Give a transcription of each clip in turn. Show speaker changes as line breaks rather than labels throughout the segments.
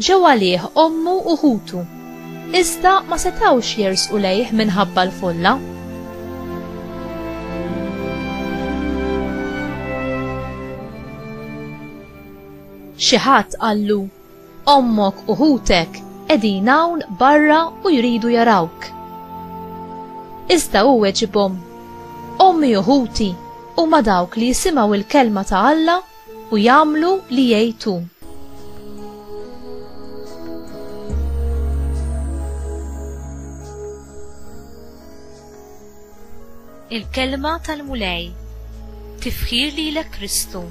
Ġew għalih ommu u ħutu, iżda ma setgħux jersqu lejh minħabba l-folla. Xi ħadd qallu, Ommok u ħutek qegħdin hawn barra u jridu jarawk. Iżda hu weġibhom, Ommi u ħuti huma dawk li jisimgħu l-kelma ta' Alla u jagħmlu li jgħid hu. Il-kelma tal-Mulej tifħir lilek Kristu.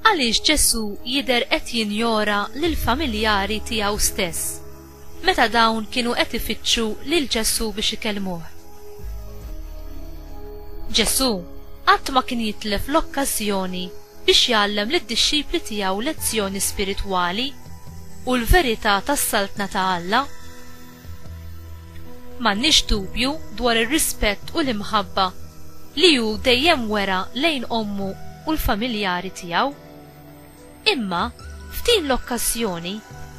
Għaliex Ġesù jidher qed jinjora lill-familjari tiegħu stess? meta dawn kienu qed ifittxu lil Ġesù biex ikellmuh. Ġesù qatt ma kien jitlef l-okkażjoni biex jgħallem lid-dixxipli tiegħu lezzjoni spiritwali u l-verità tas-Saltna ta' Alla. M'għandniex dubju dwar ir-rispett u l-imħabba li hu dejjem wera lejn ommu u l-familjari tiegħu. Imma, f'din l-okkażjoni,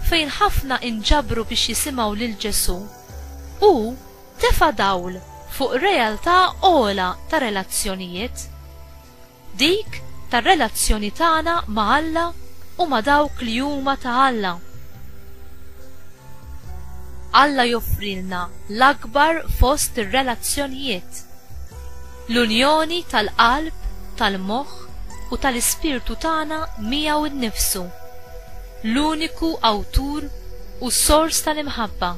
fejn ħafna inġabru biex jisimgħu lil Ġesù, hu tefa' dawl fuq realtà ogħla ta' relazzjonijiet, dik tar-relazzjoni tagħna ma' Alla u ma' dawk li huma ta' Alla. Alla joffrilna l-akbar fost ir-relazzjonijiet. L-unjoni tal-qalb, tal-moħħ u tal-ispirtu tagħna miegħu nnifsu, l-uniku Awtur u Sors tal-imħabba.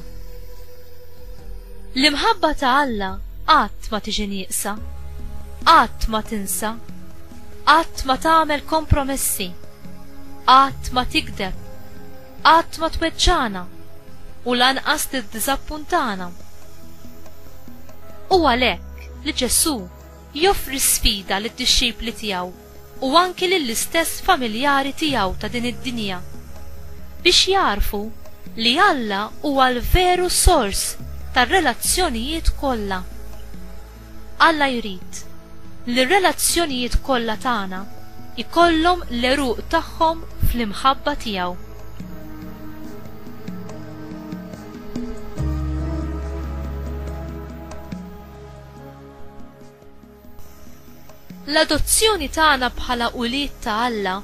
L-imħabba ta' Alla qatt ma tiġi nieqsa, qatt ma tinsa, qatt ma tagħmel kompromessi, qatt ma tigdeb, qatt ma tweġġagħna u lanqas tiddiżappuntana. U għalhekk, li Ġesù joffri sfida lid-dixxipli tiegħu u anki lill-istess familjari tiegħu ta' din id-dinja biex jagħrfu li Alla huwa l-veru sors tar-relazzjonijiet kollha. Alla jrid li r-relazzjonijiet kollha tagħna jkollhom l-għeruq tagħhom fl-imħabba tiegħu. L-adozzjoni tagħna bħala ulied ta' Alla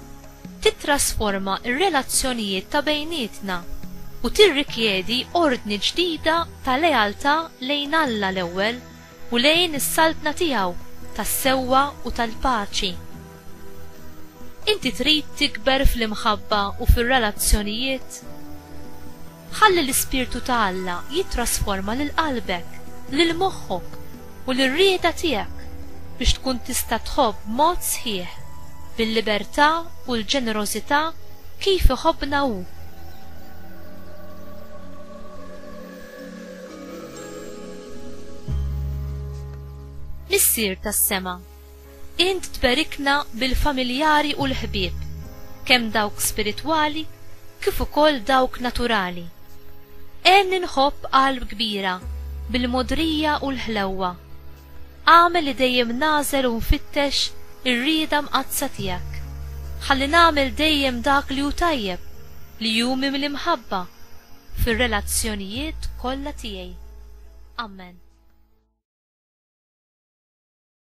titrasforma r-relazzjonijiet ta' bejnietna u tirrikjedi ordni ġdida ta' lealtà lejn Alla l-ewwel u lejn is-Saltna tiegħu tas-sewwa u tal-paċi. Inti trid tikber fl-imħabba u fir-relazzjonijiet? Ħalli l-Ispirtu ta' Alla jittrasforma lil qalbek, lil moħħok, u lir-rieda tiegħek biex tkun tista' tħobb b'mod sħiħ, bil-libertà u l-ġenerożità kif iħobbna Hu. Missier tas-Sema. Int tberikna bil-familjari u l-ħbieb, kemm dawk spiritwali kif ukoll dawk naturali. Għenni nħobb qalb kbira bil-mogħdrija u l-ħlewwa. Agħmel li dejjem nagħżel u nfittex ir-rieda mqaddsa tiegħek. Ħalli nagħmel dejjem dak li hu tajjeb, li hu mimli mħabba, fir-relazzjonijiet kollha tiegħi. Amen.